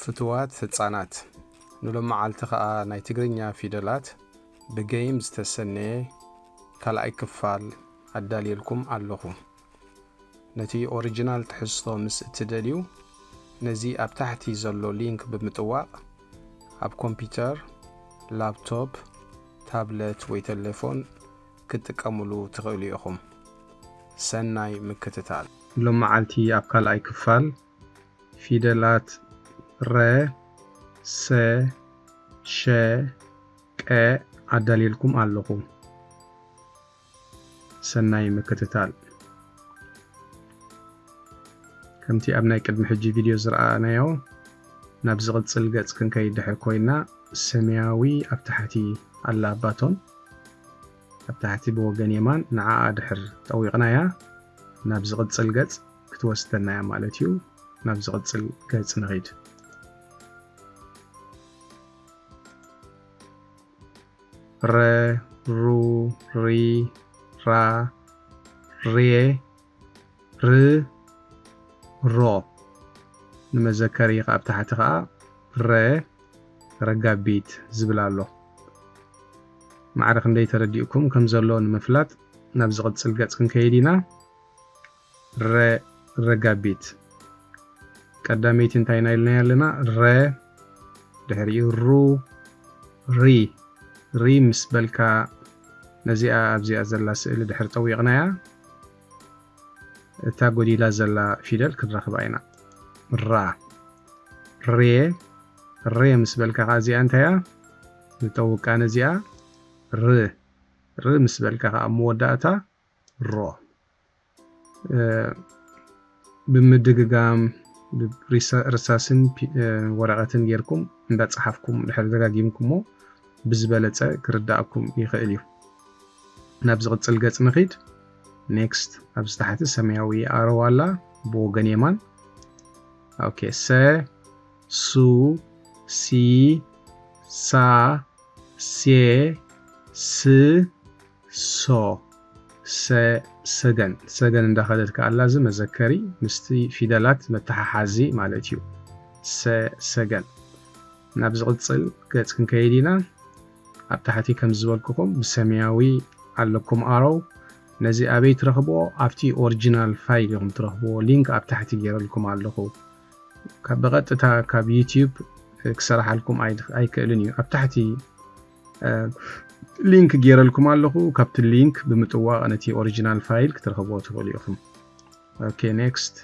ፍቱዋት ህጻናት ንሎምዓልቲ ከኣ ናይ ትግርኛ ፊደላት ብገይም ዝተሰነየ ካልኣይ ክፋል ኣዳልየልኩም ኣለኹ። ነቲ ኦሪጅናል ትሕዝቶ ምስ እትደልዩ ነዚ ኣብ ታሕቲ ዘሎ ሊንክ ብምጥዋቕ ኣብ ኮምፒተር፣ ላፕቶፕ፣ ታብለት ወይ ተሌፎን ክትጥቀምሉ ትኽእሉ ኢኹም። ሰናይ ምክትታል። ሎምዓልቲ ኣብ ካልኣይ ክፋል ፊደላት ረ፣ ሰ፣ ሸ፣ ቀ ኣዳልየልኩም ኣለኹ። ሰናይ ምክትታል። ከምቲ ኣብ ናይ ቅድሚ ሕጂ ቪድዮ ዝረኣናዮ ናብ ዝቕጽል ገጽ ክንከይድ ድሕር ኮይና ሰማያዊ ኣብ ታሕቲ ኣላ ባቶን ኣብ ታሕቲ ብወገን የማን ንዓኣ ድሕር ጠዊቕናያ ናብ ዝቕጽል ገጽ ክትወስደና እያ ማለት እዩ። ናብ ዝቕጽል ገጽ ንኺድ። ረ ሩ ሪ ራ ሬ ር ሮ ንመዘከሪ ካብ ታሕቲ ከዓ ረ ረጋቢት ዝብል ኣሎ ማዕረ ክንደይ ተረዲኡኩም ከም ዘሎ ንምፍላጥ ናብ ዝቕጽል ገጽ ክንከይድ ኢና ረ ረጋቢት ቀዳመይቲ እንታይ ኢና ኢልናያ ኣለና ረ ድሕሪኡ ሩ ሪ ሪ ምስ በልካ ነዚኣ ኣብዚኣ ዘላ ስእሊ ድሕሪ ጠዊቕናያ እታ ጎዲላ ዘላ ፊደል ክንረኽባ ኢና ራ ሬ ሬ ምስ በልካ ከዓ እዚኣ እንታያ ንጠውቃ ነዚኣ ር ር ምስ በልካ ከዓ መወዳእታ ሮ ብምድግጋም ርሳስን ወረቐትን ጌርኩም እንዳጸሓፍኩም ድሕሪ ደጋጊምኩሞ ብዝበለጸ ክርዳኣኩም ይኽእል እዩ። ናብ ዝቕጽል ገጽ ንኺድ፣ Next፣ ኣብዚ ታሕቲ ሰማያዊ ኣሮው ኣላ ብወገን የማን ኦኬ ሰ ሱ ሲ ሳ ሴ ስ so ሰ ሰገን ሰገን እንዳኸደት ከኣ ኣላ እዚ መዘከሪ ምስቲ ፊደላት መተሓሓዚ ማለት እዩ ሰ ሰገን ናብ ዝቕጽል ገጽ ክንከይድ ኢና ኣብ ታሕቲ ከም ዝበልኩኹም ብሰማያዊ ኣለኩም ኣሮው ነዚ ኣበይ ትረኽብዎ ኣብቲ ኦሪጂናል ፋይል ኢኹም ትረኽብዎ ሊንክ ኣብ ታሕቲ ገይረልኩም ኣለኹ ብቐጥታ ካብ ዩቲዩብ ክሰራሓልኩም ኣይክእልን እዩ ኣብ ታሕቲ ሊንክ ጌረልኩም ኣለኹ ካብቲ ሊንክ ብምጥዋቕ ነቲ ኦሪጂናል ፋይል ክትረኽብዎ ትኽእሉ ኢኹም ኦኬ ኔክስት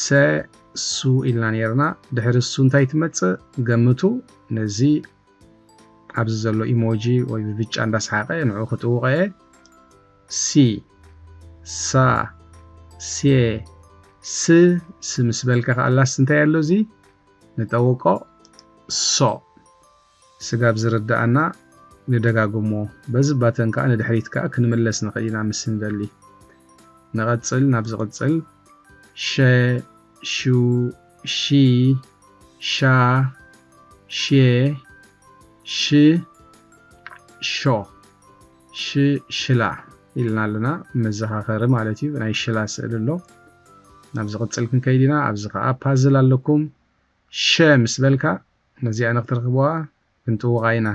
ሰ ሱ ኢልና ነርና ድሕሪ እሱ እንታይ ትመፅእ ገምቱ ነዚ ኣብዚ ዘሎ ኢሞጂ ወይ ብብጫ እንዳስሓቐ ንዑ ክጥውቐ እየ ሲ ሳ ሴ ስ ስ ምስ በልካ ከኣላስ እንታይ ኣሎ እዚ ንጠውቆ so ስጋብ ዝርደኣና ንደጋግሞ በዚ ባተን ከኣ ንድሕሪት ከኣ ክንምለስ ንክእል ኢና ምስ እንደሊ ንቀጽል ናብ ዝቅጽል ሸ ሹ ሺ ሻ ሼ ሽ ሾ ሽ ሽላ ኢልና ኣለና መዘኻኸሪ ማለት እዩ ናይ ሽላ ስእሊ ኣሎ ናብ ዝቕጽል ክንከይድ ኢና ኣብዚ ከኣ ፓዝል ኣለኩም ሸ ምስ በልካ ነዚኣ ንክትረኽብዋ ክንጥውቓ ኢና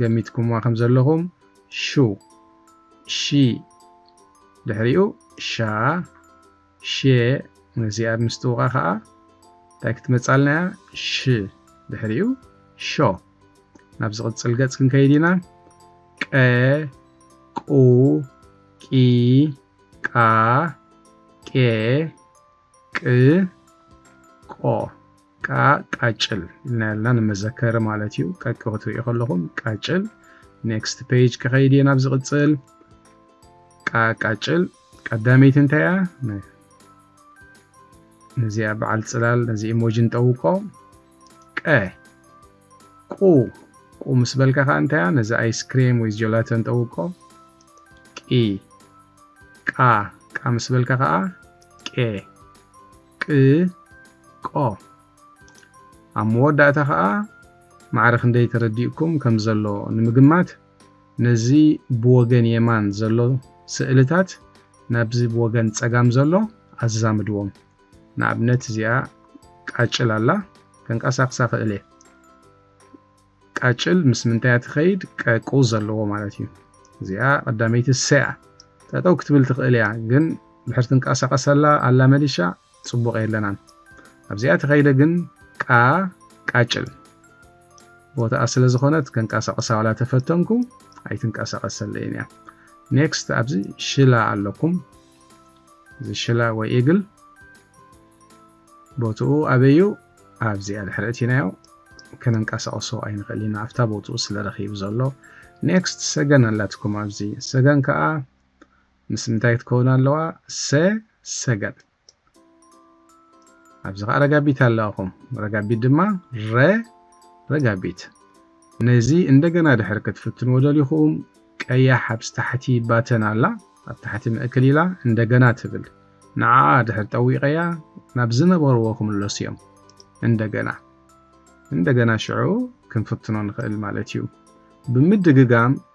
ገሚትኩምዋ ከም ዘለኹም ሹ ሺ ድሕሪኡ ሻ ሽየ ነዚኣ ኣብ ምስጥውቓ ከኣ እንታይ ክትመጻልና እያ? ሽ ድሕሪኡ ሾ። ናብ ዝቕጽል ገጽ ክንከይድ ኢና። ቀ ቁ ቂ ቃ ቄ ቅ ቆ ቃ ቃጭል ኢልና ያልና ንመዘከሪ ማለት እዩ። ቀቂ ክትርእዩ ከለኹም ቃጭል። ኔክስት ፔጅ ክኸይድ እየ ናብ ዝቕጽል ቃ ቃጭል ቀዳመይቲ እንታይ እያ ነዚኣ በዓል ፅላል ነዚ ኢሞጂ ንጠውቆ ቀ ቁ ቁ ምስ በልካ ከዓ እንታይ እያ ነዚ ኣይስክሬም ወይ ጀላተ ንጠውቆ ቂ ቃ ቃ ምስ በልካ ከዓ ቄ ቅ ቆ ኣብ መወዳእታ ከዓ ማዕረ ክንደይ ተረዲኡኩም ከም ዘሎ ንምግማት ነዚ ብወገን የማን ዘሎ ስእልታት ናብዚ ብወገን ጸጋም ዘሎ ኣዛምድዎም። ንኣብነት እዚኣ ቃጭል ኣላ፣ ከንቀሳቕሳ እኽእል እየ። ቃጭል ምስ ምንታይ እያ ትኸይድ? ቀቁ ዘለዎ ማለት እዩ። እዚኣ ቀዳመይቲ ሰ እያ። ጠጠው ክትብል ትኽእል እያ፣ ግን ድሕሪ ትንቀሳቐስ ኣላ ኣላመዲሻ ጽቡቅ የለናን ኣብዚኣ ተከይደ ግን ቃ ቃጭል ቦታኣ ስለ ዝኮነት ከንቃሳቅሳ ዋላ ተፈተንኩ ኣይትንቀሳቀሰለይን እያ ኔክስት ኣብዚ ሽላ ኣለኩም እዚ ሽላ ወይ ኢግል ቦትኡ ኣበዩ ኣብዚኣ ድሕሪ እቲናዮ ከነንቀሳቅሶ ኣይንክእል ኢና ኣብታ ቦትኡ ስለ ረኪቡ ዘሎ ኔክስት ሰገን ኣላትኩም ኣብዚ ሰገን ከዓ ምስ እንታይ ትከውን ኣለዋ ሰ ሰገጥ ኣብዚ ከኣ ረጋቢት ኣለዋኹም ረጋቢት ድማ ረ ረጋቢት ነዚ እንደገና ድሕር ክትፍትንዎ ደሊኹም ቀያሕ ኣብዚ ታሕቲ ባተን ኣላ ኣብ ታሕቲ ምእክል ኢላ እንደገና ትብል ንዓኣ ድሕር ጠዊቀያ ናብ ዝነበርዎ ክምለሱ እዮም እንደገና እንደገና ሽዑ ክንፍትኖ ንኽእል ማለት እዩ ብምድግጋም